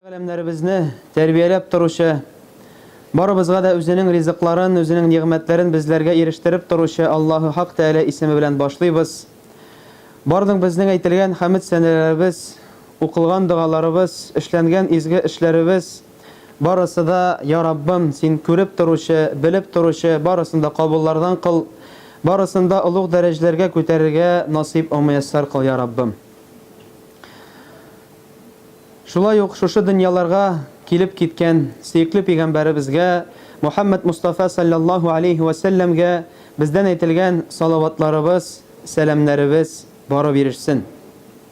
Галәмнәребезне тәрбияләп торучы, барыбызга да үзенең ризыкларын, үзенең нигъмәтләрен безләргә ирештереп торучы Аллаһу Хак Тәгалә исеме белән башлыйбыз. Барлык безнең әйтелгән хәмд сәнәләребез, укылган догаларыбыз, эшләнгән изге эшләребез, Барысы да, я Раббым, Син күреп торучы, белеп торучы, барысын да кабуллардан кыл, барысын да олуг дәрәҗләргә күтәрергә насыйп омөяссәр кыл, я Раббым. Шулай ук шушы дөньяларга килеп киткән сөекле пигамбәребезгә Мухәммәд Мостафа салләллаһу алейһи вә сәлләмгә бездән әйтелгән салаватларыбыз, сәламнәребез барып ирешсен.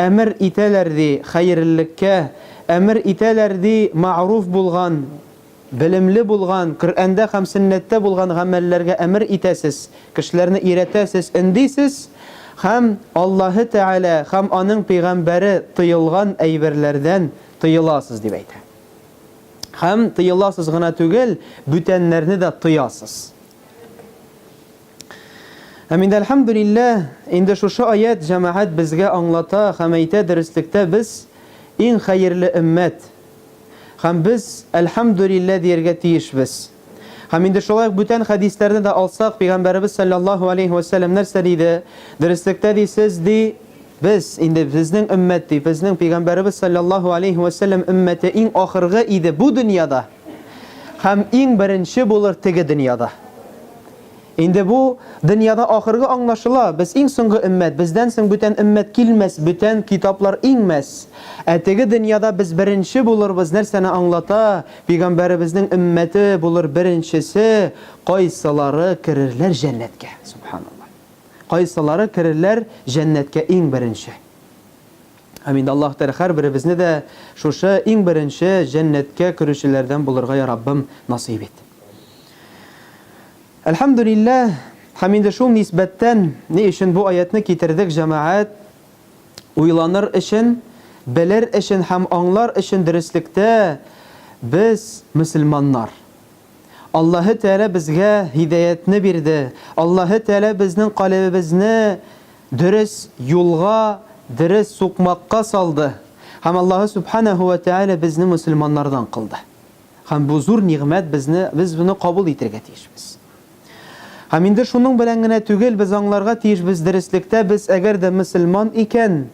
Әмер итәләр, ди, хәерллеккә, әмер итәләр, ди, мәгъруф булган, белемле булган, Коръәндә һәм Сөннәттә булган гамәлләргә әмер итәсез, кешеләрне өйрәтәсез, өндисез, һәм Аллаһы Тәгалә һәм Аның Пәйгамбәре тыелган әйберләрдән тыеласыз, дип әйтә. Һәм тыеласыз гына түгел, бүтәннәрне дә тыясыз. Һәм инде әлхәмдүлилләһ, инде шушы аять җәмәгать безгә аңлата һәм әйтә дөреслектә без иң хәерле өммәт. Һәм без әлхәмдүлилләһ диергә тиешбез. Һәм инде шулай ук бүтән хәдисләрне дә алсак, пигамбәребез салләллаһу алейһи вә сәлләм нәрсә диде? Дөреслектә ди сез ди, без, инде безнең өммәт ди, безнең пигамбәребез салләллаһу алейһи вә сәлләм өммәте иң ахыргы иде бу дөньяда һәм иң беренче булыр теге дөньяда. Инде бу дөньяда ахыргы аңлашыла, без иң соңгы өммәт, бездән соң бүтән өммәт килмәс, бүтән китаплар иңмәс. Ә теге дөньяда без беренче булырбыз нәрсәне аңлата, пигамбәребезнең өммәте булыр беренчесе, кайсылары керерләр җәннәткә, субханалла. Кайсылары керерләр җәннәткә иң беренче. Амин, Аллаһ Тәгалә һәрберебезне дә шушы иң беренче җәннәткә керүчеләрдән булырга я Раббым насыйп ит. Әлхәмдүлилләһ, һәм инде шул нисбәттән ни өчен бу аятьне китердек, җәмәгать, уйланыр өчен, белер өчен һәм аңлар өчен дөреслектә без мөселманнар. Аллаһы Тәгалә безгә һидәятне бирде, Аллаһы Тәгалә безнең калебебезне дөрес юлга, дөрес сукмакка салды һәм Аллаһы Сүбхәнәһү вә Тәгалә безне мөселманнардан кылды. Һәм бу зур нигъмәт безне, без моны кабул итергә тиешбез. Һәм инде шуның белән генә түгел, без аңларга тиешбез, дөреслектә без әгәр дә мөселман икән,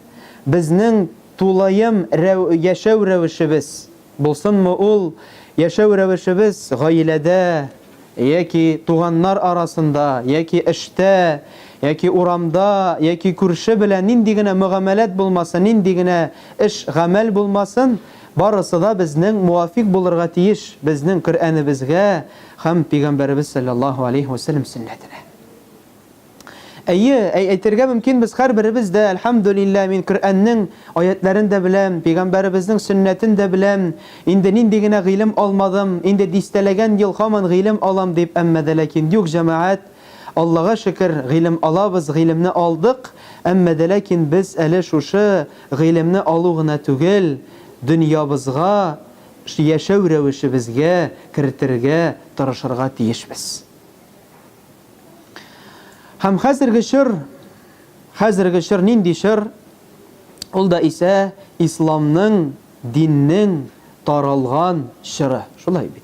безнең тулаем рәү, яшәү рәвешебез, Булсынмы ул, яшәү рәвешебез гаиләдә яки туганнар арасында, яки эштә, яки урамда, яки күрше белән нинди генә мөгамәләт булмасын, нинди генә эш, гамәл булмасын, барысы да безнең муафикъ булырга тиеш безнең Коръәнебезгә һәм Пигамбәребез салләллаһу алейһи вә сәлләм сөннәтенә. Әйе, әй әйтергә мөмкин без һәрберебез дә, әлхәмдүлилләһ, мин Коръәннең аятьләрен дә беләм, пәйгамбәребезнең сөннәтен дә беләм, инде нинди генә гыйлем алмадым, инде дистәләгән ел һаман гыйлем алам дип, әмма дә ләкин юк, җәмәгать, Аллага шөкер, гыйлем алабыз, гыйлемне алдык, әмма дә ләкин без әле шушы гыйлемне алу гына түгел, дөньябызга, яшәү рәвешебезгә кертергә тырышырга тиешбез. Һәм хәзерге чор, хәзерге чор нинди чор? Ул да исә исламның, диннең таралган чоры. Шулай бит.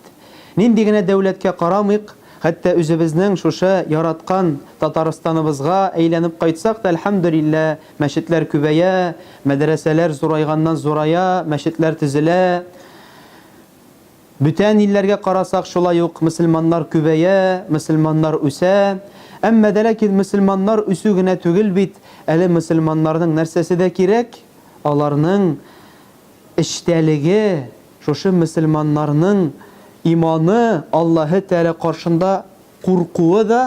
Нинди генә дәүләткә карамыйк, хәтта үзебезнең шушы яраткан Татарстаныбызга әйләнеп кайтсак та, әлхәмдүлилләһ, мәчетләр күбәя, мәдрәсәләр зурайганнан-зурая, мәчетләр төзелә. Бүтән илләргә карасак шулай ук мөселманнар күбәя, мөселманнар үсә, әмма дә ләкин мөселманнар үсү генә түгел бит, әле мөселманнарның нәрсәсе дә кирәк, аларның эчтәлеге, шушы мөселманнарның иманы, Аллаһы Тәгалә каршында куркуы да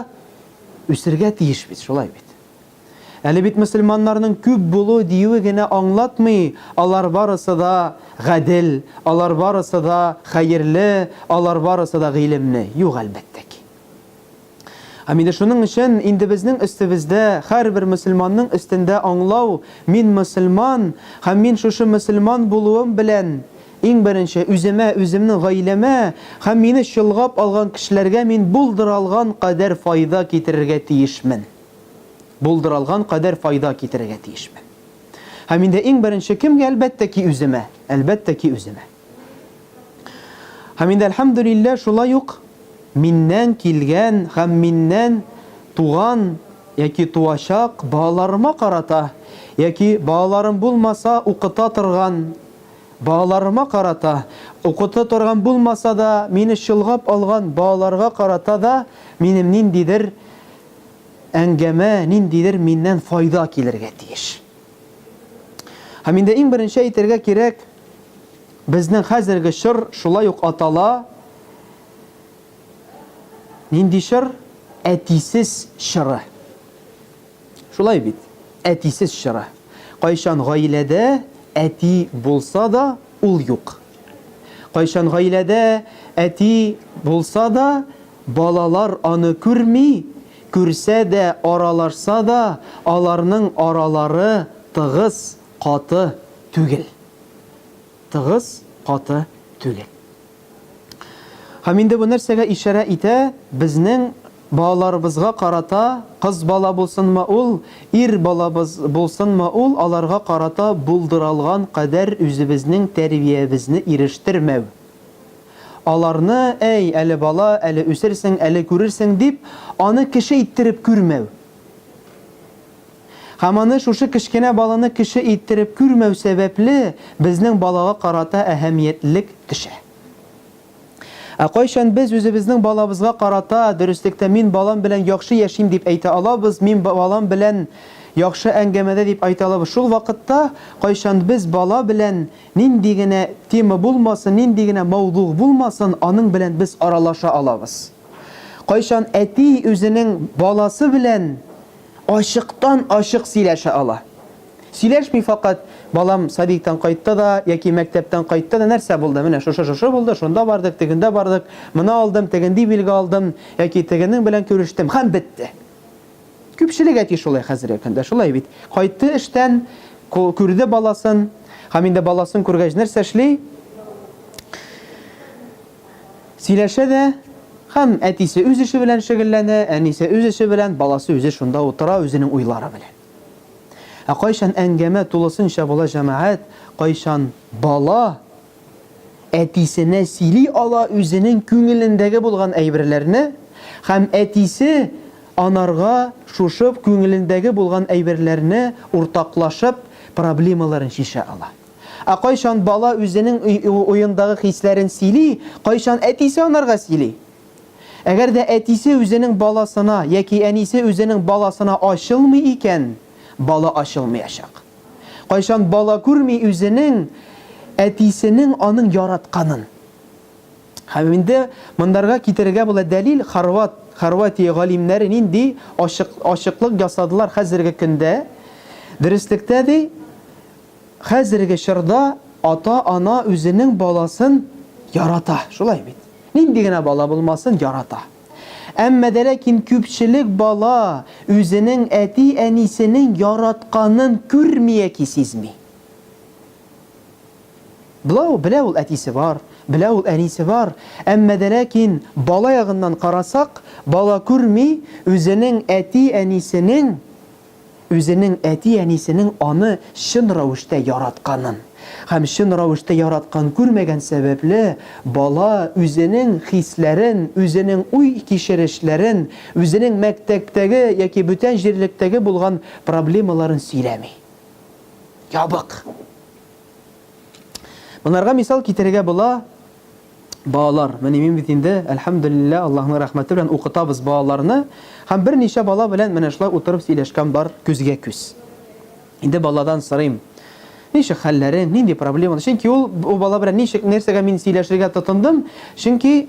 үсергә тиеш бит, шулай бит. Әле бит мөселманнарның күп булу диюе генә аңлатмый, алар барысы да гадел, алар барысы да хәерле, алар барысы да гыйлемле. Юк, әлбәттә ки. Һәм инде шуның өчен инде безнең өстебездә, һәрбер мөселманның өстендә аңлау, мин мөселман, һәм мин шушы мөселман булуым белән, иң беренче, үземә, үземнең гаиләмә һәм мине чолгап алган кешеләргә мин булдыра алган кадәр файда китерергә тиешмен. булдыралган кадәр файда китерергә тиешмен. Һәм инде иң беренче кемгә, әлбәттә ки, үземә, әлбәттә ки, үземә. Һәм инде, әлхәмдүлилләһ, шулай ук миннән килгән һәм миннән туган яки туачак балаларыма карата, яки балаларым булмаса, укыта торган балаларыма карата, укыта торган булмаса да, мине чолгап алган балаларга карата да минем ниндидер әңгәмә ниндидер миннән файда килергә тиеш. Һәм инде иң беренче әйтергә кирәк, безнең хәзерге чор шулай ук атала. Нинди чор? Әтисез чоры. Шулай бит, әтисез чоры. Кайчан гаиләдә әти булса да, ул юк. Кайчан гаиләдә әти булса да, балалар аны күрми, күрсә дә, аралашса да, аларның аралары тыгыз, каты түгел. Тыгыз, каты түгел. Һәм инде бу нәрсәгә ишарә итә, безнең Балаларыбызга карата, кыз бала булсынмы ул, ир балабыз булсынмы ул, аларга карата булдыралган кадәр үзебезнең тәрбиябезне ирештермәү. Аларны, әй, әле бала, әле үсерсең, әле күрерсең, дип, аны кеше иттереп күрмәү. Һәм аны шушы кечкенә баланы кеше иттереп күрмәү сәбәпле, безнең балага карата әһәмиятлелек төшә. Ә кайчан без үзебезнең балабызга карата, дөреслектә мин балам белән яхшы яшим дип әйтә алабыз, мин балам белән яхшы әңгәмәдә дип әйтә алабыз? Шул вакытта, кайчан без бала белән нинди генә тема булмасын, нинди генә мәүдугъ булмасын, аның белән без аралаша алабыз. Кайчан әти үзенең баласы белән ачыктан-ачык сөйләшә ала? Сөйләшми факат, балам садиктан кайтты да, яки мәктәптән кайтты да, нәрсә булды, менә шушы-шушы булды, шунда бардык, тегендә бардык, моны алдым, тегенди билге алдым, яки тегенең белән күрештем, һәм бетте. Күпчелек әти шулай хәзерге көндә, шулай бит. Кайтты эштән, күрде баласын, һәм инде баласын күргәч нәрсә эшли? Сөйләшә дә, һәм әтисе үз эше белән шөгыльләнә, әнисе үз эше белән, баласы үзе шунда утыра, үзенең уйлары белән. Ә кайчан әңгәмә тулысынча була җәмәгать, кайчан бала әтисенә сөйли ала үзенең күңелендәге булган әйберләрне һәм әтисе анарга шушып күңелендәге булган әйберләрне уртаклашып проблемаларын чишә ала. Ә кайчан бала үзенең уендагы хисләрен сөйли, кайчан әтисе анарга сөйли. Әгәр дә әтисе үзенең баласына яки әнисе үзенең баласына ачылмый икән, бала ачылмыячак. Кайчан бала күрми үзенең әтисенең аның яратканын? Һәм инде мондарга китерергә була дәлил, хорват, Хорватия галимнәре нинди ачык, ачыклык ясадылар хәзерге көндә, дөреслектә, ди, Хәзерге чорда ата-ана үзенең баласын ярата, шулай бит? Нинди генә бала булмасын, ярата. Әмма дә ләкин күпчелек бала үзенең әти-әнисенең яратканын күрми яки сизми. Бла ул, белә ул әтисе бар, белә ул әнисе бар, әмма дә ләкин бала ягыннан карасак, бала күрми үзенең әти-әнисенең үзенең әти-әнисенең аны чын рәвештә яратканын һәм чын рәвештә яраткан күрмәгән сәбәпле, бала үзенең хисләрен, үзенең уй-кичерешләрен, үзенең мәктәптәге яки бүтән җирлектәге булган проблемаларын сөйләми. Ябык. Монарга мисал китерергә була, Балалар, менә мин бит инде, әлхәмдүлилләһ, Аллаһның рәхмәте белән укытабыз балаларны, һәм берничә бала белән менә шулай утырып сөйләшкән бар, күзгә-күз. Инде баладан сорыйм, ничек хәлләрең, нинди проблемалар, чөнки ул бала белән ничек, нәрсәгә мин сөйләшергә тотындым, чөнки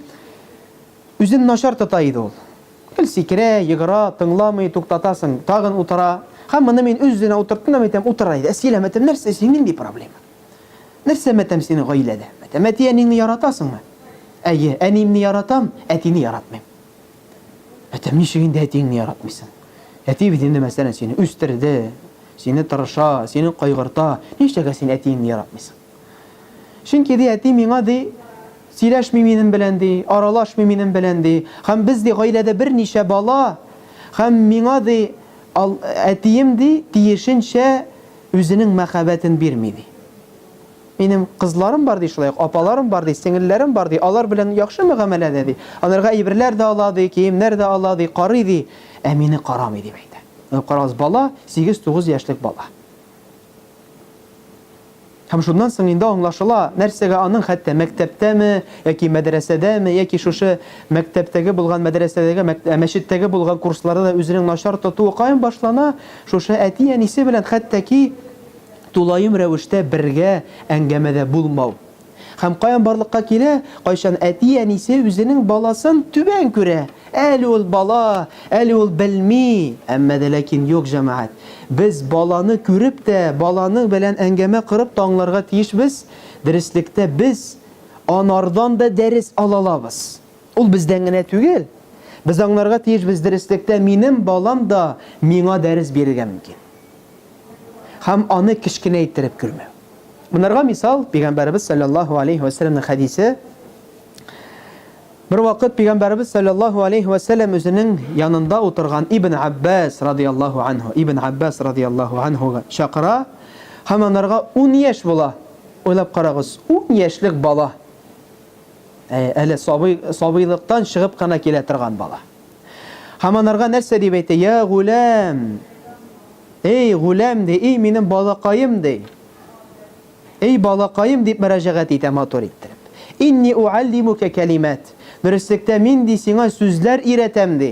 үзен начар тота иде ул. Гел сикерә, егыра, тыңламый, туктатасың, тагын утыра. Һәм моны мин үз-үзенә утырттым һәм әйтәм, утыра иде, ә сөйләмәдем, нәрсә, син нинди проблема? Нәрсә матәм синең гаиләдә? Матәм Әти әниңне яратасыңмы? Әйе, әниемне яратам, әтине яратмыйм. Матәм ничек инде әтиеңне яратмыйсың? Әти бит инде мәсәлән сине үстерде, сине тырыша, сине кайгырта, нишләгә син әтиеңне яратмыйсың? Чөнки ди әти миңа ди сөйләшми минем белән ди, аралашмый минем белән ди. Һәм без ди гаиләдә берничә бала, һәм миңа ди әтием ди тиешенчә Үзенең мәхәббәтен бирми, ди. Минем кызларым бар, ди, шулай ук апаларым бар, ди, сеңелләрем бар, ди, алар белән яхшы мөгамәләдә, ди. Аларга әйберләр дә ала, ди, киемнәр дә ала, ди, карый, ди. Ә мине карамый, дип әйтә. Менә карагыз, бала, сигез-тугыз яшьлек бала. Һәм шуннан соң инде аңлашыла, нәрсәгә аның хәтта мәктәптәме, яки мәдрәсәдәме, яки шушы мәктәптәге булган, мәдрәсәдәге, мәчеттәге булган курсларда да үзенең начар тотуы каян башлана, Шушы әти-әнисе белән хәтта ки тулаем рәвештә бергә әңгәмәдә булмау. Һәм каян барлыкка килә, кайчан әти-әнисе үзенең баласын түбән күрә, әле ул бала, әле ул белми, әмма дә ләкин юк, җәмәгать. Без баланы күреп тә, баланың белән әңгәмә корып та аңларга тиешбез, дөреслектә без анардан да дәрес алалабыз. Ул бездән генә түгел. Без аңларга тиешбез, дөреслектә минем балам да миңа дәрес бирергә мөмкин. Һәм аны кечкенә иттереп күрмәү. Монарга мисал, Пәйгамбәребез салләллаһу алейһи вә сәлләмнең хәдисе. Бер вакыт Пәйгамбәребез салләллаһу алейһи вә сәлләм үзенең янында утырган Ибн Аббас радияллаһу анһу, Ибн Аббас радияллаһу анһуга чакыра һәм анарга ун яшь була. Уйлап карагыз, ун яшьлек бала. Әле сабый, сабыйлыктан чыгып кына килә торган бала. Һәм анарга нәрсә дип әйтә? Я гуләм! Эй, гуләм, ди, эй, минем балакаем, ди. Эй, балакаем, дип мөрәҗәгать итә матур иттереп. Инни уаллимука кәлимат. Дөреслектә мин, ди, сиңа сүзләр өйрәтәм, ди.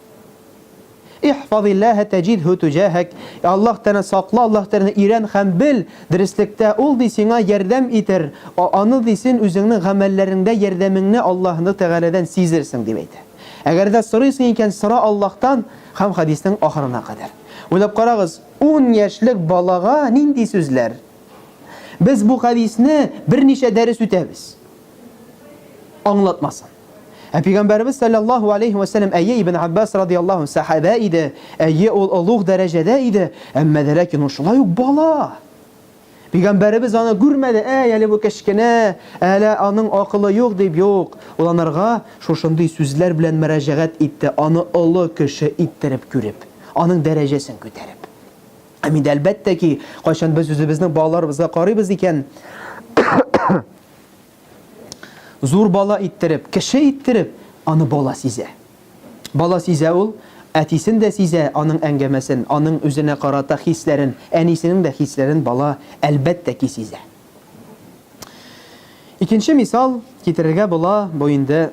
Ихфазиллаһа тәҗидһу туҗаһәк, Аллаһ Тәгаләне сакла, Аллаһ Тәгаләне өйрән һәм бел, дөреслектә Ул, ди, сиңа ярдәм итер, Аны, ди, син үзеңнең гамәлләреңдә ярдәмеңне Аллаһ Тәгаләдән сизерсең, дип әйтә. Әгәр дә сорыйсың икән, сора Аллаһтан һәм хәдиснең ахырына кадәр. Уйлап карагыз, ун яшьлек балага нинди сүзләр? Без бу хәдисне берничә дәрес үтәбез. Аңлатмасын. Ә пигамбәребез салләллаһу алейһи вә сәлләм әйе Ибн Аббас радияллаһу анһ сәхабә иде, әйе ул олуг дәрәҗәдә иде, әмма дә ләкин ул шулай ук бала. Пигамбәребез аны күрмәде, әй әле бу кечкенә, әле аның акылы юк дип юк, ул анарга шушындый сүзләр белән мөрәҗәгать итте, аны олы кеше иттереп күреп, аның дәрәҗәсен күтәреп. Һәм инде әлбәттә ки, кайчан без үзебезнең балаларыбызга карыйбыз икән, Зур бала иттереп, кеше иттереп, аны бала сизә. Бала сизә ул, әтисен дә сизә, аның әңгәмәсен, аның үзенә карата хисләрен, әнисенең дә хисләрен бала, әлбәттә ки, сизә. Икенче мисал китерергә була, бу инде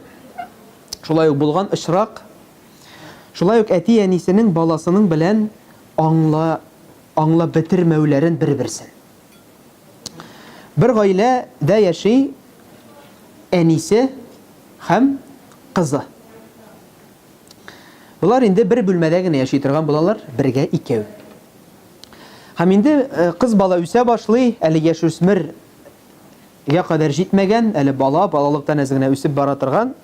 шулай ук булган очрак. Шулай ук әти-әнисенең баласының белән аңла, аңлап бетермәүләрен бер-берсен. Бер гаилә дә яши әнисе һәм кызы. Болар инде бер бүлмәдә генә яши торган булалар, бергә икәү. Һәм инде э, кыз бала үсә башлый, әле яшь үсмер я кадәр җитмәгән, әле бала, балалыктан әз генә үсеп бара торган.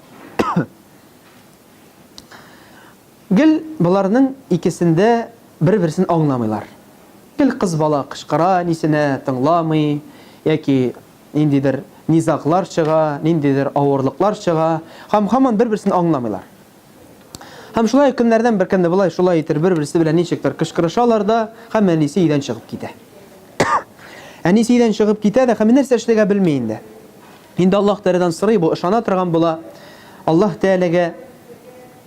Гел боларның икесендә бер-берсен аңламыйлар. Гел кыз бала кычкыра, нисенә тыңламый, яки ниндидер низаглар чыга, ниндидер авырлыклар чыга, һәм һаман бер-берсен аңламыйлар. Һәм шулай ук көннәрдән бер көнне болай, шулай итер, бер-берсе белән ничектер кычкырышалар да, һәм әнисе өйдән чыгып китә. Әнисе өйдән чыгып китә дә, һәм нәрсә эшләргә белми инде. Инде Аллаһ Тәгаләдән сорый бу, ышана торган була. Аллаһ Тәгаләгә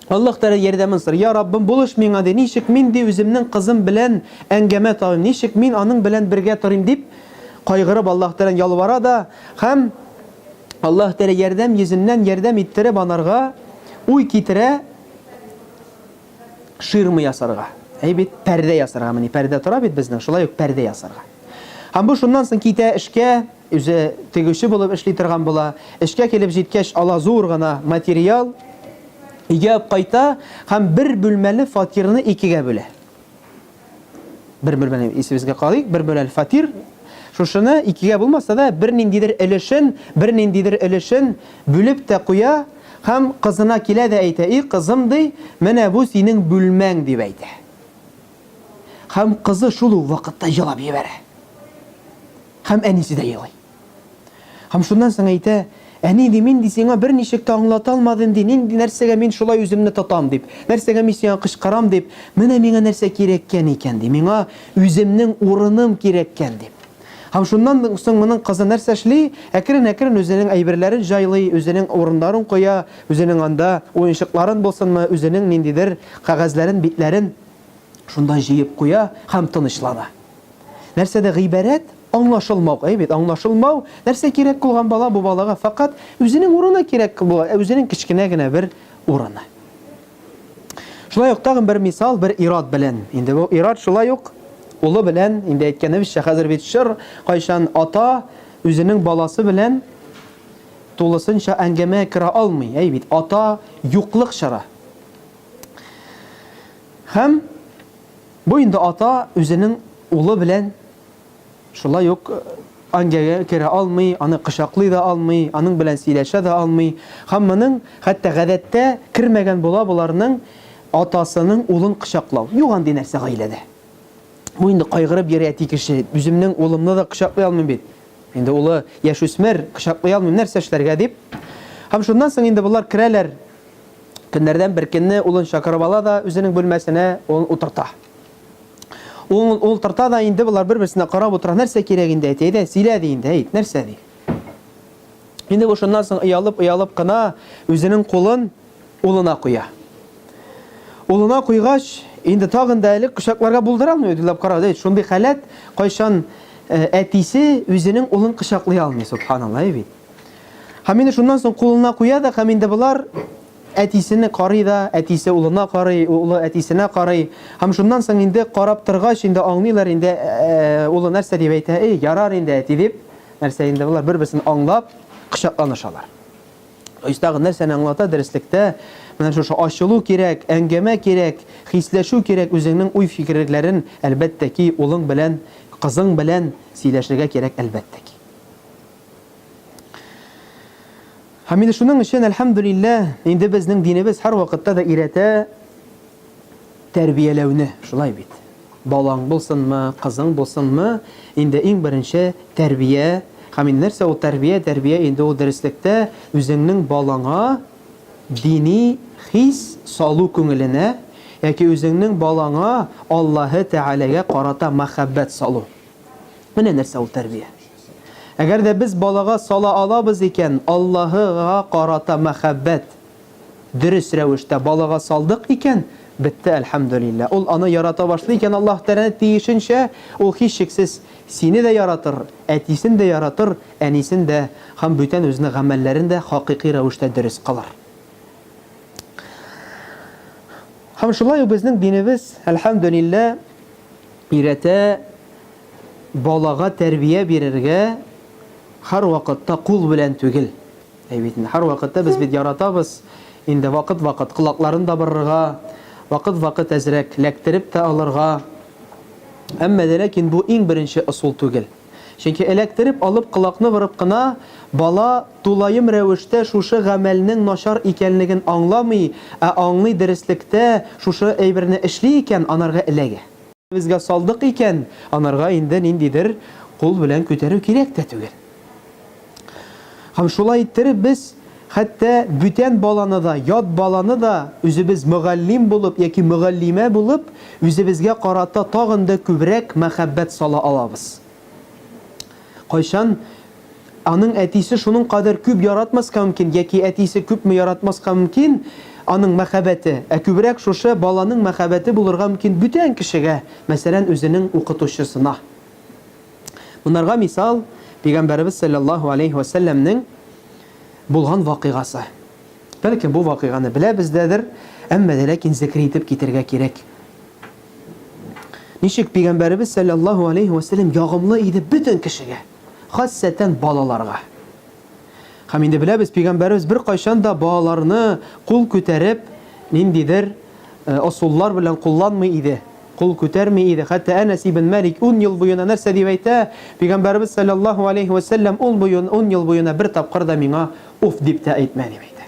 Аллаһ Тәгалә ярдәмен сорый. Я Раббым, булыш миңа, ди. Ничек мин, ди, үземнең кызым белән әңгәмә табыйм? Ничек мин аның белән бергә торыйм? дип кайгырып Аллаһ Тәгаләдән ялвара да һәм Аллаһ Тәгалә ярдәм йөзеннән ярдәм иттереп анарга уй китерә. ширма ясарга. Әй бит, пәрдә ясарга мени, пәрдә тора бит безнең, шулай ук пәрдә ясарга. Һәм бу шуннан соң китә эшкә, үзе тегүче булып эшли торган була. Эшкә килеп җиткәч, ала зур гына материал, өйгә кайта һәм бер бүлмәле фатирны икегә бүлә. Бер бүлмәне исебезгә калыйк, бер бүлмәле фатир. Шушыны икегә булмаса да, берниндидер өлешен, берниндидер өлешен бүлеп тә куя һәм кызына килә дә әйтә, И кызым, ди, менә бу синең бүлмәң, дип әйтә. Һәм кызы шул ук вакытта елап җибәрә. Һәм әнисе дә елый. Һәм шуннан соң әйтә, Әни, ди, мин, ди, сиңа берничек тә аңлата алмадым, ди, нинди нәрсәгә мин шулай үземне тотам, дип, нәрсәгә мин сиңа кычкырам, дип, менә миңа нәрсә кирәккән икән, ди, миңа үземнең урыным кирәккән, дип. Һәм шуннан соң моның кызы нәрсә эшли? Әкрен-әкрен үзенең әйберләрен җайлый, үзенең урыннарын куя, үзенең анда уенчыкларын булсынмы, үзенең ниндидер кәгазьләрен, битләрен. Шунда җыеп куя һәм тынычлана. Нәрсәдә гыйбарәт? Аңлашылмау. Әйе бит, аңлашылмау. Нәрсә кирәк булган бала бу балага фәкать үзенең урыны кирәк була, ә үзенең кечкенә генә бер урыны. Шулай ук тагын бер мисал бер ир-ат белән. Инде бу ир-ат шулай ук улы белән, инде әйткәнебезчә, хәзер бит чор, кайчан ата үзенең баласы белән тулысынча әңгәмә керә алмый. Әйе бит, ата юклык чоры. Һәм бу инде ата үзенең улы белән шулай ук ангәгә керә алмый, аны кочаклый да алмый, аның белән сөйләшә дә алмый. Һәм моның хәтта гадәттә кермәгән була боларның атасының улын кочаклау. Юк андый нәрсә гаиләдә. Бу инде кайгырып йөри әти кеше. Үземнең улымны да кочаклый алмыйм бит. Инде улы яшүсмер, кочаклый алмыйм, нәрсә эшләргә дип. Һәм шуннан соң инде болар керәләр Көннәрдән бер көнне улын чакырып ала да үзенең бүлмәсенә улын утырта. Улын ултырта да инде болар бер-берсенә карап утыра, нәрсә кирәк инде, әти, әйдә, сөйлә, ди инде, әйт, нәрсә, ди. Инде бу шуннан соң оялып-оялып кына үзенең кулын улына куя. Улына куйгач, инде тагын да әле кочакларга булдыра алмый, уйлап кара, әйт, шундый халәт, кайчан әтисе үзенең улын кочаклый алмый, субханалла, әй бит. Һәм инде шуннан соң кулына куя да, һәм инде болар әтисене карый да, әтисе улына карый, улы әтисенә карый. Һәм шуннан соң инде карап торгач, инде аңлыйлар инде э, улы нәрсә дип әйтә, эй, ярар инде әти дип, нәрсә инде болар бер-берсен аңлап кочакланышалар. Истагы нәрсәне аңлата дәреслектә, менә шушы ачылу кирәк, әңгәмә кирәк, хисләшү кирәк, үзеңнең уй фикерләрен әлбәттә ки, улың белән, кызың белән сөйләшергә кирәк әлбәттә ки. Һәм инде шуның өчен, әлхәмдүлиллә, инде безнең динебез һәрвакытта да өйрәтә тәрбияләүне, шулай бит. Балаң булсынмы, кызың булсынмы, инде иң беренче тәрбия. Һәм инде нәрсә ул тәрбия? Тәрбия инде ул дөреслектә үзеңнең балаңа дини хис салу күңеленә яки үзеңнең балаңа Аллаһы Тәгаләгә карата мәхәббәт салу. Менә нәрсә ул тәрбия. Әгәр дә без балага сала алабыз икән, Аллаһы га карата мәхәббәт, дөрес рәвештә балага салдык икән, бетте, әлхәмдүлилләһ. Ул аны ярата башлый икән Аллаһ Тәгаләне тиешенчә, ул, һичшиксез, сине дә яратыр, әтисен дә яратыр, әнисен дә һәм бүтән үзенең гамәлләрен дә хакыйкый рәвештә дөрес кылыр. Һәм шулай ук безнең динебез, әлхәмдүлилләһ, өйрәтә, Балага тәрбия бирергә һәрвакытта кул белән түгел, әй бит инде, һәрвакытта без бит яратабыз инде вакыт-вакыт колакларын да борырга, вакыт-вакыт әзрәк ләктереп тә алырга. Әмма дә ләкин бу иң беренче ысул түгел. Чөнки эләктереп алып колакны борып кына бала тулаем рәвештә шушы гамәлнең начар икәнлеген аңламый, ә аңлый, дөреслектә шушы әйберне эшли икән, анарга эләгә. Безгә салдык икән, анарга инде ниндидер кул белән күтәрү кирәк тә түгел. Һәм шулай иттереп без хәтта бүтән баланы да, ят баланы да үзебез мөгаллим булып яки мөгаллимә булып, үзебезгә карата тагын да күбрәк мәхәббәт сала алабыз. Кайчан? Аның әтисе шуның кадәр күп яратмаска мөмкин, яки әтисе күпме яратмаска мөмкин, аның мәхәббәте, ә күбрәк шушы баланың мәхәббәте булырга мөмкин бүтән кешегә, мәсәлән, үзенең укытучысына. Монарга мисал, Пәйгамбәребез салләллаһу аләйһи вә сәлләмнең булган вакыйгасы. Бәлкем, бу вакыйганы беләбез дәдер, әмма дә ләкин зекер итеп китергә кирәк. Ничек Пигамбәребез сәлләллаһу алейһи вә сәлләм ягымлы иде бөтен кешегә, хасәтән балаларга. Хәм инде беләбез, Пигамбәребез бер кайчан да балаларны кул күтәреп, ниндидер осуллар э, белән кулланмый иде, кул күтәрми иде. Хәтта Әнәс ибн Мәлик 10 ел буена нәрсә дип әйтә? Пигамбәребез сәлләллаһу алейһи вә сәлләм 10 буен 10 ел буена бер тапкыр да миңа уф дип тә әйтмә дип әйтә.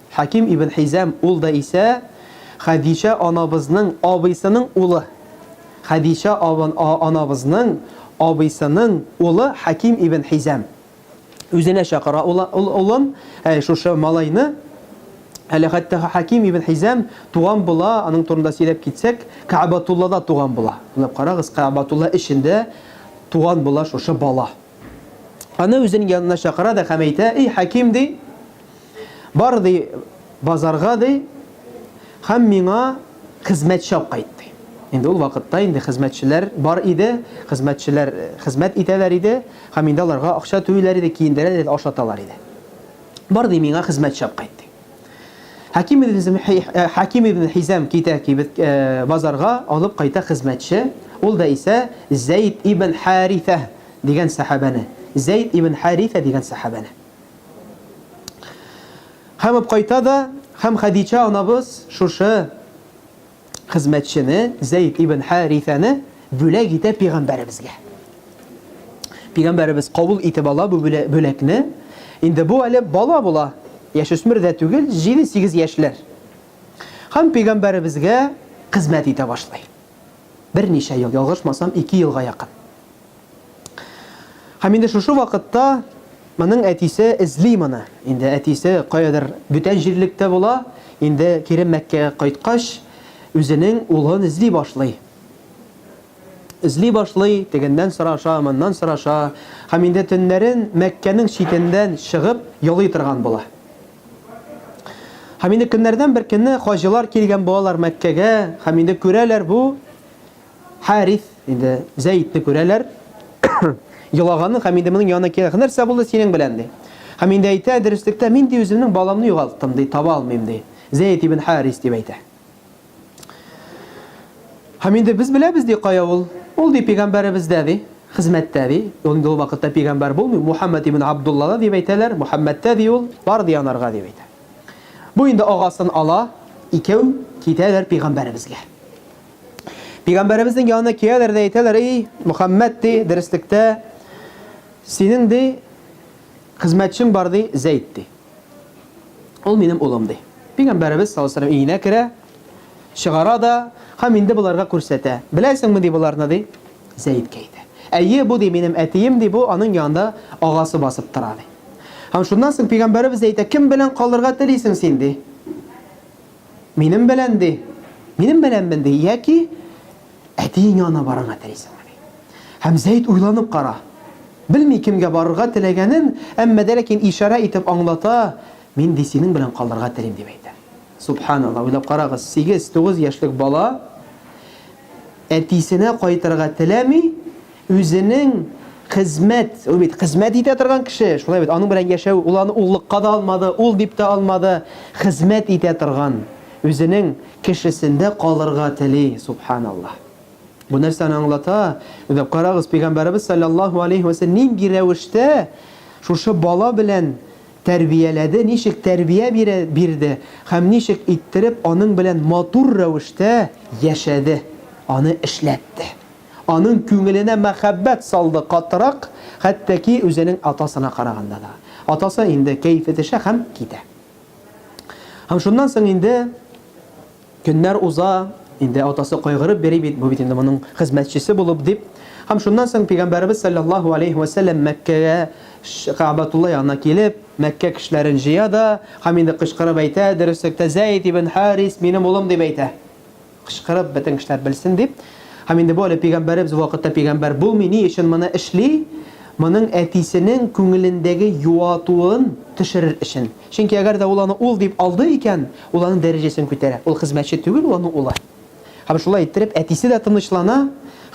Хәким ибн Хизам, ул да исә Хәдичә анабызның абыйсының улы. Хәдичә анабызның абыйсының улы Хәким ибн Хизам үзенә чакыра ул улын, әй, шушы малайны, әле хәтта Хәким ибн Хизам туган була, аның турында сөйләп китсәк, Кәгъбәтуллада туган була. Уйлап карагыз, Кәгъбәтулла эчендә туган була шушы бала. Аны үзенең янына чакыра да һәм әйтә, Эй, Хәким, ди, Бар, ди, базарга, ди, һәм миңа хезмәтче алып кайт, ди. Инде ул вакытта инде хезмәтчеләр бар иде, хезмәтчеләр э, хезмәт итәләр иде, һәм инде аларга акча түлиләр иде, киендерәләр иде, ашаталар иде. Бар, ди, миңа хезмәтче алып кайт, ди. Хаким ибн э, Хаким ибн Хизам китә кибет э, базарга, алып кайта хезмәтче. Ул да исә Зәйд ибн Харифа дигән сахабәне. Зәйд ибн Харифа дигән сахабәне. Һәм апкайта да, һәм Хәдичә анабыз шушы хезмәтчене, Зәйд ибн Харисәне бүләк итә пигамбәребезгә. Пигамбәребез кабул итеп ала бу бүләкне. Инде бу әле бала була, яшүсмер дә түгел, 7-8 яшьләр. Һәм пигамбәребезгә хезмәт итә башлый. Берничә ел, ялгышмасам, 2 елга якын. Һәм инде шушы вакытта моның әтисе эзли моны. Инде әтисе каядыр бүтән җирлектә була, инде кире Мәккәгә кайткач, үзенең улын эзли башлый. Эзли башлый, тегеннән сораша, моннан сораша, һәм инде төннәрен Мәккәнең читендән чыгып йолый торган була. Һәм инде көннәрдән бер көнне хаҗилар килгән булалар Мәккәгә, һәм инде күрәләр бу Харис, инде Зәйтне күрәләр. Елаганын һәм инде моның янына килгән. Нәрсә булды синең белән? ди. Һәм инде әйтә, дөреслектә, мин ди үземнең баламны югалттым, ди, таба алмыйм, ди. Зәйт ибн Харис дип әйтә. Һәм инде без беләбез ди кая ул. Ул ди пигамбәребездә ди, хезмәттә ди. Ул инде ул вакытта пигамбәр булмый, Мухаммад ибн Абдуллада дип әйтәләр, Мухаммадта ди ул, бар ди анарга дип әйтә. Бу инде агасын ала, икәү китәләр пигамбәребезгә. Пигамбәребезнең янына кияләр дә әйтәләр, "Эй, Мөхәммәд, ди, дөреслектә синең ди хезмәтчең бар ди, Зәйд ди. Ул минем улым ди." Пигамбәребез саллаллаһу алейһи өенә керә, чыгара да һәм инде боларга күрсәтә. Беләсеңме ди боларны ди? Зәйд кәйтә. Әйе, бу ди минем әтием ди, бу аның янында агасы басып тора ди. Һәм шуннан соң пигамбәребез әйтә, "Кем белән калырга телисең син ди?" Минем белән ди. Минем беләнмен ди, яки әтиең янына барырга телисеңме ди. Һәм Зәйд уйланып кара. Белми кемгә барырга теләгәнен, әмма дә ләкин ишарә итеп аңлата, мин ди синең белән калырга телим дип әйтә. Субханалла, уйлап карагыз, 8-9 яшьлек бала әтисенә кайтырга теләми, Үзенең хезмәт, ул бит хезмәт итә торган кеше, шулай бит, аның белән яшәү, ул аны уллыкка да алмады, ул дип тә алмады, хезмәт итә торган үзенең кешесендә калырга тели, субханаллаһ. Бу нәрсәне аңлата, уйлап карагыз, Пәйгамбәребез салләллаһу алейһи вә сәлләм нинди рәвештә шушы бала белән тәрбияләде, ничек тәрбия бирә, бирде һәм ничек иттереп аның белән матур рәвештә яшәде, аны эшләтте. Аның күңеленә мәхәббәт салды катырак, хәтта ки үзенең атасына караганда да. Атасы инде кәефе төшә һәм китә. Һәм шуннан соң инде көннәр уза, инде атасы кайгырып йөри бит, бу бит инде моның хезмәтчесе булып дип. Һәм шуннан соң Пәйгамбәребез салләллаһу алейһи вә сәлләм Мәккәгә, Кәгъбәтулла янына килеп, Мәккә кешеләрен җыя да һәм инде кычкырып әйтә, Дөреслектә Зәйд ибн Харис минем улым дип әйтә. Кычкырып, бөтен кешеләр белсен дип. Һәм инде бу әле пигамбәребез вакытта пигамбәр булмый, ни өчен моны эшли? Моның әтисенең күңелендәге юатуын төшерер өчен. Чөнки әгәр дә ул аны ул дип алды икән, ул аның дәрәҗәсен күтәрә. Ул хезмәтче түгел, ул аның улы. Һәм шулай иттереп, әтисе дә тынычлана,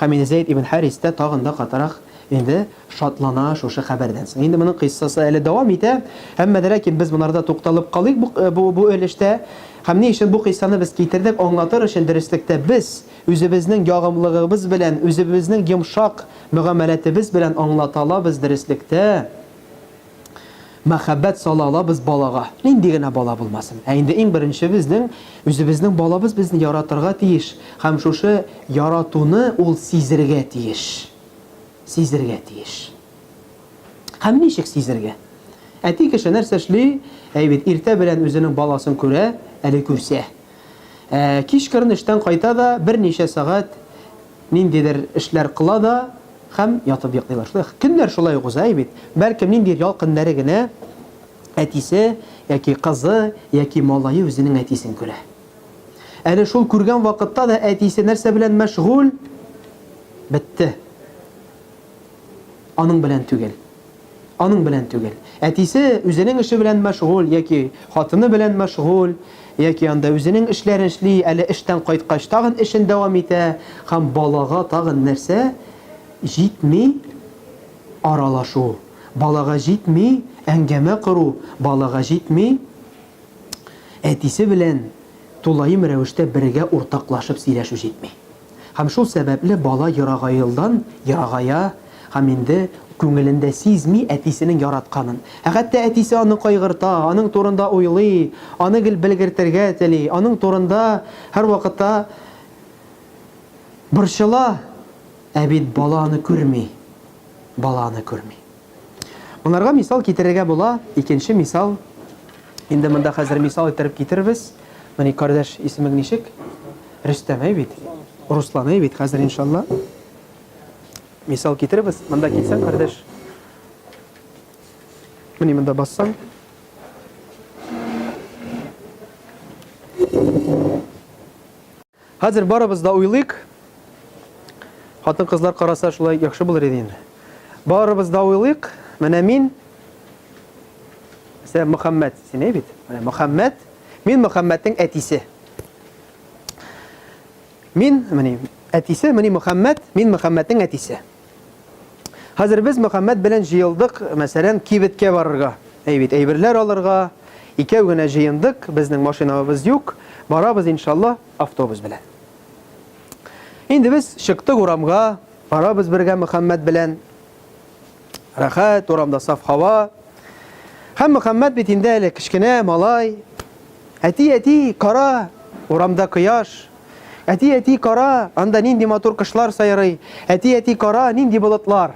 һәм инде Зәйд ибн Харис тә тагын да катырак инде шатлана шушы хәбәрдән соң. Инде моның кыйссасы әле дәвам итә, әмма дә ләкин без монарда тукталып калыйк бу бу бу өлештә. Һәм ни өчен бу кыйссаны без китердек, аңлатыр өчен дөреслектә без үзебезнең ягымлыгыбыз белән, үзебезнең йомшак мөгамәләтебез белән аңлата алабыз дөреслектә, мәхәббәт сала алабыз балага, нинди генә бала булмасын. Ә инде иң беренче безнең үзебезнең балабыз безне яратырга тиеш һәм шушы яратуны ул сизергә тиеш. сизергә тиеш. Һәм ничек сизергә? Әти кеше нәрсә эшли? Әй бит, иртә белән үзенең баласын күрә, әле күрсә. Ә, кичкырын эштән кайта да, берничә сәгать ниндидер эшләр кыла да һәм ятып йоклый башлый. Көннәр шулай ук уза, әй бит. Бәлкем ниндидер ял көннәре генә әтисе яки кызы яки малае үзенең әтисен күрә. Әле шул күргән вакытта да әтисе нәрсә белән мәшгуль? Бетте. Аның белән түгел. Аның белән түгел. Әтисе үзенең эше белән мәшгуль яки хатыны белән мәшгуль, яки анда үзенең эшләрен эшли, әле эштән кайткач тагын эшен дәвам итә һәм балага тагын нәрсә җитми аралашу, балага җитми әңгәмә кору, балага җитми. Әтисе белән тулаем рәвештә бергә уртаклашып сөйләшү җитми. Һәм шул сәбәпле бала ерагаелдан ерагая һәм инде күңелендә сизми әтисенең яратканын. Ә хәтта әтисе аны кайгырта, аның турында уйлый, аны гел белгертергә тели, аның турында һәрвакытта борчыла. Ә бит бала аны күрми. Бала аны күрми. Монарга мисал китерергә була, икенче мисал, инде монда хәзер мисал иттереп китерербез. Менә кардәш исемең ничек? Рөстәмәй бит. Русланай бит хәзер иншалла. Мисал китеребез. Монда килсәң, кардәш. Менә монда бассаң. Хәзер барыбыз да уйлыйк. Хатын-кызлар караса шулай яхшы булыр иде инде. Барыбыз да уйлыйк. Менә мин Сә Мөхәммәд исеме бит. Менә Мөхәммәд. Мин Мөхәммәднең әтисе. Мин, мени, әтисе, мени Мөхәммәд, мин Мөхәммәднең әтисе. Хәзер без Мөхәммәд белән җыелдык, мәсәлән, кибеткә барырга. Әй бит, әйберләр алырга. Икәү генә җыендык, безнең машинабыз юк. Барабыз, иншалла, автобус белән. Инде без чыктык урамга, барабыз бергә Мөхәммәд белән. Рәхәт, урамда саф һава. Һәм Мөхәммәд бит инде әле кечкенә малай. Әти, әти, кара, урамда кояш. Әти, әти, кара, анда нинди матур кошлар сайрый. Әти, әти, кара, нинди болытлар.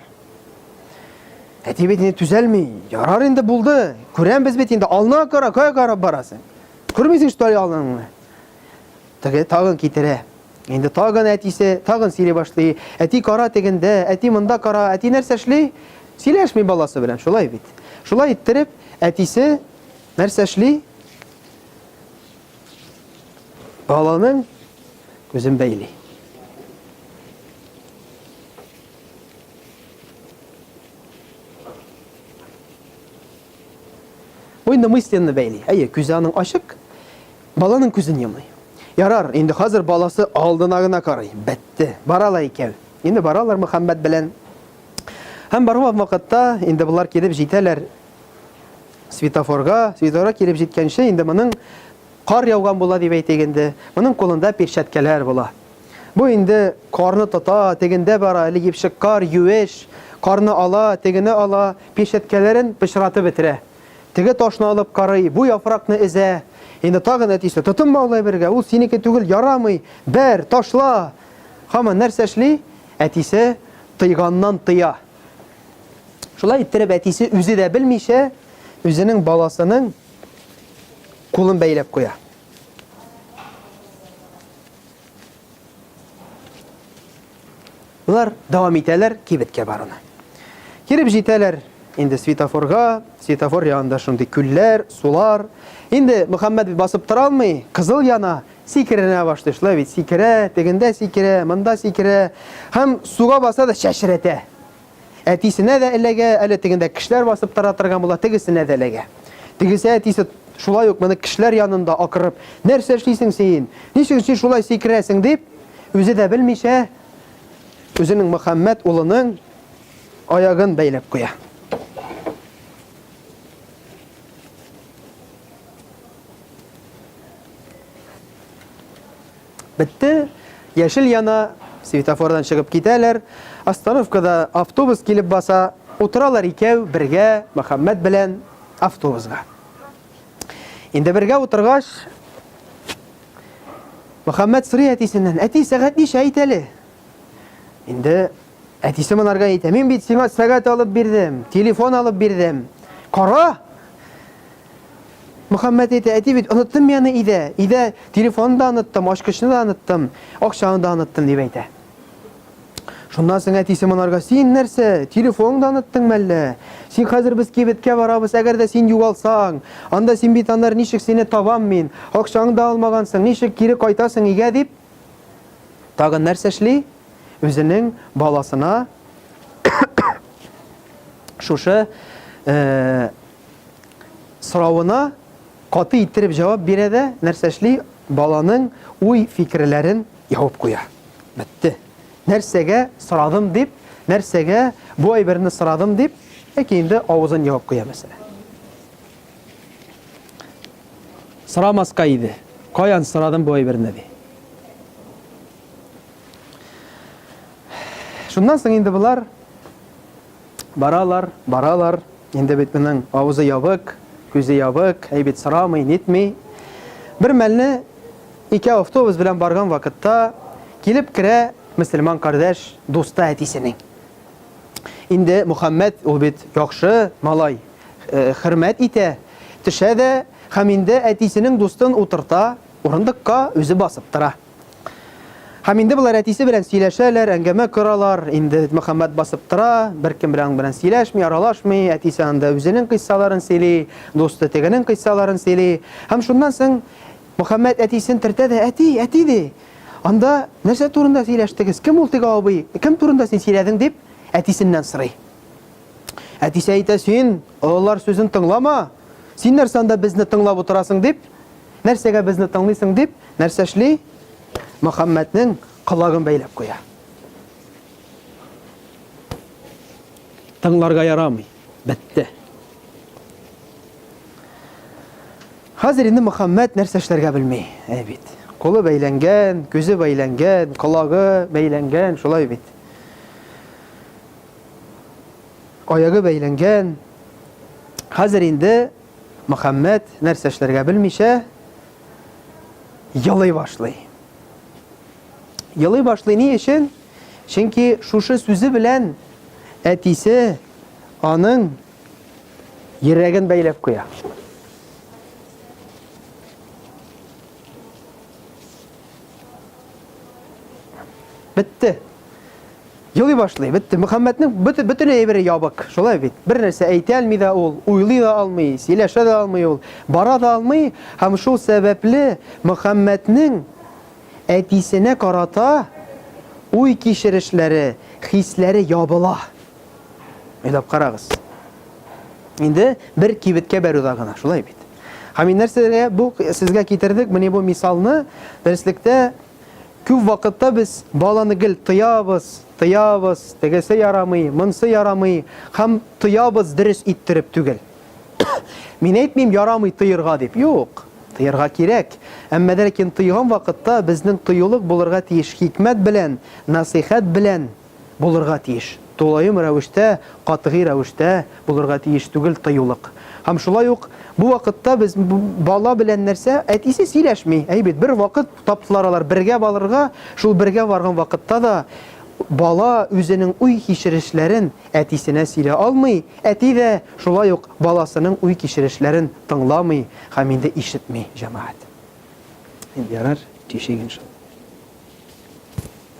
Әти бит инде түзәлми. Ярар инде булды. Күрәмбез бит инде. Ална кара, кая карап барасың? Күрмисең, что ли, алнаңны? Теге тагын китерә. Инде тагын әтисе, тагын сөйли башлый. Әти кара тегендә, әти монда кара, әти нәрсә эшли? Сөйләшми баласы белән, шулай бит. Шулай иттереп, әтисе нәрсә эшли? Баланың күзен бәйли. Уйны мысленны бәйли. Әйе, күзе аның ачык, баланың күзен йомый. Ярар, инде хәзер баласы алдына гына карый. Бәтте. Бара ла икән. Инде баралар Мөхәммәт белән. Һәм барган вакытта инде болар килеп җитәләр Светофорга, светофорга килеп җиткәнче, инде моның кар яуган була дип әйтик инде. Моның кулында перчаткалар була. Бу инде карны тота, тегендә бара, әле епшек кар, юеш, карны ала, тегене ала, перчаткаларын пычратып бетерә. Теге ташны алып карый, бу яфракны эзә. Инде тагын әтисе, тотынма ул әйбергә, ул синеке түгел, ярамый, бәр, ташла. Хаман нәрсә эшли? Әтисе тыйганнан тыя. Шулай иттереп әтисе үзе дә белмичә үзенең баласының кулын бәйләп куя. Улар дәвам итәләр кибеткә баруны. Киреп җитәләр инде светофорга, светофор янында шундый күлләр, сулар. Инде Мөхәммәд басып тора алмый, кызыл яна, Сикеренә башлый шулай бит, сикерә, тегендә сикерә, монда сикерә. Һәм суга баса да чәчрәтә. Әтисенә дә эләгә, әле тегендә кешеләр басып тора торган була, тегесенә дә эләгә. Тегесе әтисе шулай ук моны кешеләр янында акырып, нәрсә эшлисең син? Ничек син шулай сикерәсең дип, үзе дә белмичә, үзенең Мөхәммәт улының аягын бәйләп куя. Бетте, яшел яна, светофордан чыгып китәләр, остановкада автобус килеп баса, утыралар икәү, бергә, Мөхәммәт белән автобусга. Инде бергә утыргач, Мөхәммәт сорый әтисеннән, әти, сәгать ничә әйт әле? Инде әтисе монарга әйтә, мин бит сиңа сәгать алып бирдем, телефон алып бирдем, кара! Мөхәммәт әйтә, әти бит, оныттым мин аны өйдә. Өйдә телефонны да оныттым, ачкычны да оныттым, акчаны да оныттым, дип әйтә. Шуннан соң әтисе монарга, син нәрсә, телефонны да оныттың мәллә? Син хәзер без кибеткә барабыз, әгәр дә син югалсаң, анда син бит аннар ничек сине табам мин? Акчаңны да алмагансың, ничек кире кайтасың өйгә дип? Тагын нәрсә эшли? Үзенең баласына шушы э, соравына каты иттереп җавап бирә дә нәрсә эшли? Баланың уй-фикерләрен ябып куя. Бетте. Нәрсәгә сорадым дип, нәрсәгә бу әйберне сорадым дип, яки инде авызын ябып куя мәсәлән. Сорамаска иде. Каян сорадым бу әйберне ди. Шуннан соң инде болар Баралар, баралар, инде бит моның авызы ябык, күзе ябык, әй бит сорамый, нитми. Бер мәлне ике автобус белән барган вакытта килеп керә мөселман кардәш дуста әтисенең. Инде Мухаммед ул бит яхшы малай, э, хөрмәт итә, төшә дә һәм инде әтисенең дустын утырта, урындыкка үзе басып тора. Һәм инде болар әтисе белән сөйләшәләр, әңгәмә коралар. Инде Мөхәммәт басып тора, беркем белән белән сөйләшми, аралашмый. Әтисе анда үзенең кыйссаларын сөйли, дусты тегенең кыйссаларын сөйли. Һәм шуннан соң Мөхәммәт әтисен төртә дә, әти, әти, ди, анда нәрсә турында сөйләштегез, кем ул теге абый, кем турында син сөйләдең, дип, әтисеннән сорый. Әтисе әйтә, син олылар сүзен тыңлама, син нәрсә анда безне тыңлап утырасың, дип, Нәрсәгә безне тыңлыйсың дип, нәрсә эшли? Мөхәммәднең колагын бәйләп куя. Тыңларга ярамый. Бетте. Хәзер инде Мөхәммәд нәрсә эшләргә белми, әй бит. Кулы бәйләнгән, күзе бәйләнгән, колагы бәйләнгән, шулай бит. Аягы бәйләнгән. Хәзер инде Мөхәммәт, нәрсә эшләргә белмичә, елый башлый. Елый башлый ни өчен? Чөнки шушы сүзе белән әтисе аның йөрәген бәйләп куя. Бетте. Елый башлый, бетте. Мөхәммәтнең бөтен әйбере ябык. Шулай бит. Бер нәрсә әйтә алмый да ул, уйлый да алмый, сөйләшә дә алмый ул, бара да алмый. Һәм шул сәбәпле Мөхәммәтнең әтисенә карата уй кичерешләре, хисләре ябыла. Уйлап карагыз. Инде бер кибеткә баруда гына, шулай бит. Һәм нәрсәгә бу сезгә китердек, менә бу мисалны дәреслектә Күп вакытта без баланы гел тыябыз, тыябыз, тегесе ярамый, монсы ярамый, һәм тыябыз дөрес иттереп түгел. Мин әйтмим ярамый тыерга дип, юк, тыерга кирәк. Әмма ләкин тыйган вакытта безнең тыюлык булырга тиеш хикмәт белән, насыйхәт белән, булырга тиеш, тулаем рәвештә, катгый рәвештә булырга тиеш түгел тыюлык. Һәм шулай ук бу вакытта без бала белән нәрсә, әтисе сөйләшми, әй бит, бер вакыт таптылар алар бергә балырга, шул бергә барган вакытта да бала үзенең уй-кичерешләрен әтисенә сөйлә алмый, әти дә шулай ук баласының уй-кичерешләрен тыңламый һәм инде ишетми, җәмәгать. Ярар, тишек иншалла.